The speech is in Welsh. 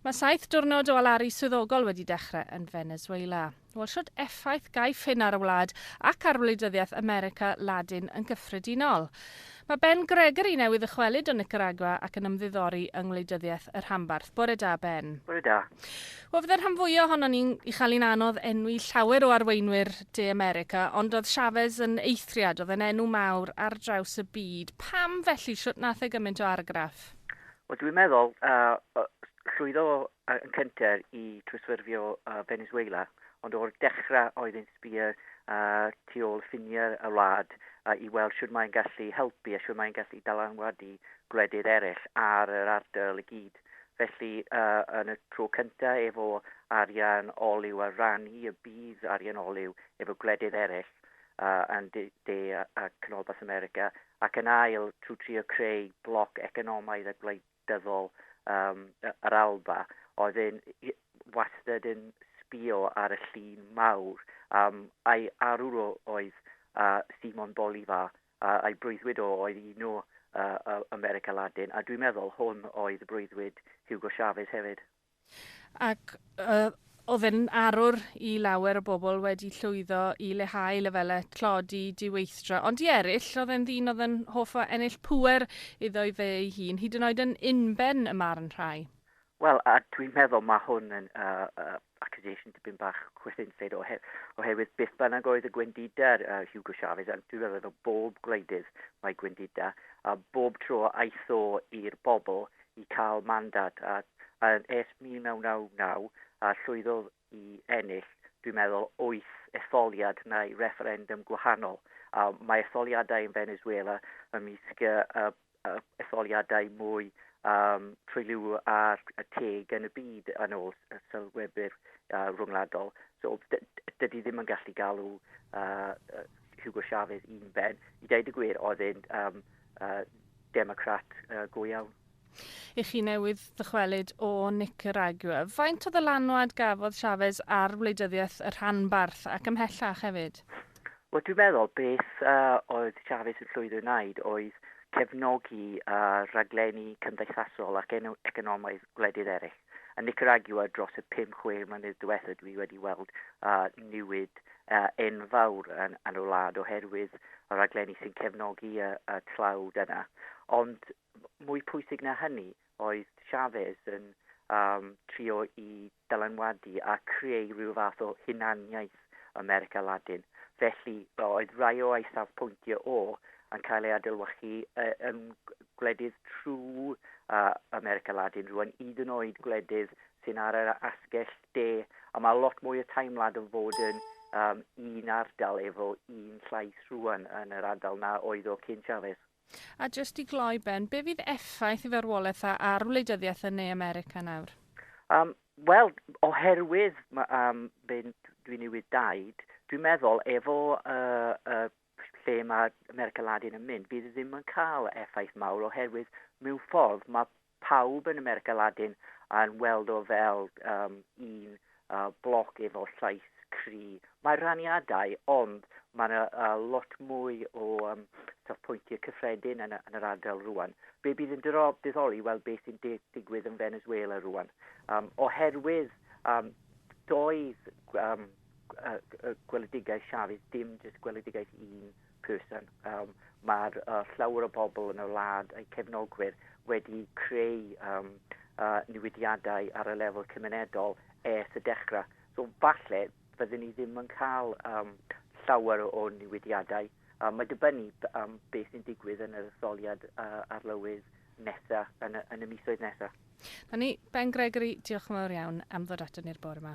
Mae saith diwrnod o alaru swyddogol wedi dechrau yn Venezuela. Wel, shwt effaith gaiff hyn ar y wlad ac ar wleidyddiaeth America Ladin yn gyffredinol? Mae Ben Gregory newydd ddychwelyd o Nicaragua ac yn ymddiddori yng ngwleidyddiaeth y rhanbarth. Bore da, Ben. Bore da. Wel, fydde'r rhan fwya ohonon ni'n i chael i'n anodd enwi llawer o arweinwyr De America, ond oedd Chavez yn eithriad, oedd yn enw mawr ar draws y byd. Pam felly? Shwt nath e gymaint o argraff? Wel, dwi'n meddwl, uh, llwyddo uh, yn cynter i trwsfyrfio uh, Venezuela, ond o'r dechrau oedd yn sbio uh, tu ôl ffiniau y wlad uh, i weld sy'n mae'n gallu helpu a sy'n mae'n gallu dalanwadu gwledydd eraill ar yr ardal i gyd. Felly, uh, yn y tro cyntaf efo arian olew a rannu y bydd arian olew efo gwledydd eraill, a yn De De a Canolbarth America, ac yn ail trwy trio creu bloc economaidd a gwleidyddol um, yr Alba, oedd yn wastad yn sbio ar y llun mawr. Um, a'i arwr oedd uh, Simon Bolivar, uh, a'i breuddwyd o oedd un o uh, America Latin, a dwi'n meddwl hwn oedd breuddwyd Hugo Chavez hefyd. ac oedd yn arwr i lawer o bobl wedi llwyddo i leihau lefelau tlodi, diweithdra. Ond i eraill, oedd e'n ddyn oedd yn hoff o ennill pŵer iddo ei fe ei hun, hyd yn oed yn unben y marn rhai. Wel, a dwi'n meddwl mae hwn yn uh, uh, accusation dipyn bach chwethinseid ohe, oherwydd beth bynnag oedd y gwendida uh, Hugo Chavez, a dwi'n meddwl efo bob gwleidydd mae gwendida, a bob tro aeth o i'r bobl i gael mandad a a ers 1999 a llwyddodd i ennill, dwi'n meddwl, wyth etholiad neu refferendwm gwahanol. A mae etholiadau yn Venezuela ymysg y, y, y etholiadau mwy um, trwyliw ar y teg yn y byd yn ôl y sylwebwyr uh, rhwngwladol. So, dydy ddim yn gallu galw uh, Hugo Chavez un ben. I ddeud y gwir, oedd e'n um, uh, Democrat uh, go iawn. I chi newydd ddychwelyd o Nicaragua, faint o ddylanwad gafodd Chavez ar wleidyddiaeth y rhanbarth ac ymhellach hefyd? Wel, dwi'n meddwl beth uh, oedd Chavez yn llwyddo i wneud oedd cefnogi uh, rhaglenni cymdeithasol ac economaidd gwledydd eraill. Yn Nicaragua dros y 5-6 mlynedd diwethaf dwi wedi weld uh, newid enfawr yn yn y wlad oherwydd y rhaglenni sy'n cefnogi y, y tlawd yna. Ond mwy pwysig na hynny oedd Chavez yn um, trio i dylanwadu a creu rhyw fath o hunaniaeth America Ladin. Felly oedd rai o ei safpwyntiau o yn cael ei adilwachu uh, yn gwledydd trwy uh, America Ladin rwan, hyd yn oed gwledydd sy'n ar yr asgell de, a mae lot mwy o teimlad yn fod yn um, un ardal efo un llais rwan yn yr ardal na oedd o cyn Chavez. A jyst i gloi Ben, be fydd effaith y farwolaeth a ar wleidyddiaeth yn Ne America nawr? Um, Wel, oherwydd um, Ben, dwi'n newydd daid, dwi'n meddwl efo y uh, uh, lle mae America Ladin yn mynd, bydd e ddim yn cael effaith mawr oherwydd mewn ffordd mae pawb yn America Ladin yn weld o fel um, un uh, bloc efo llais cri. Mae raniadau, ond mae yna uh, lot mwy o um, safpwyntiau cyffredin yn, yn yr ardal rwan. Be bydd yn dyddoli weld beth sy'n digwydd yn Venezuela rwan. Um, oherwydd um, doedd um, gweledigaeth Chavez, dim jyst gweledigaeth un person. Um, Mae'r uh, llawer o bobl yn y wlad a'i cefnogwyr wedi creu um, uh, newidiadau ar y lefel cymunedol ers y dechrau. So falle byddwn ni ddim yn cael um, llawer o newidiadau. Um, mae dibynnu um, beth sy'n digwydd yn yr etholiad uh, arlywydd nesa, yn y, yn y misoedd nesa. Na ni, Ben Gregory, diolch yn fawr iawn am ddod ato ni'r bore yma.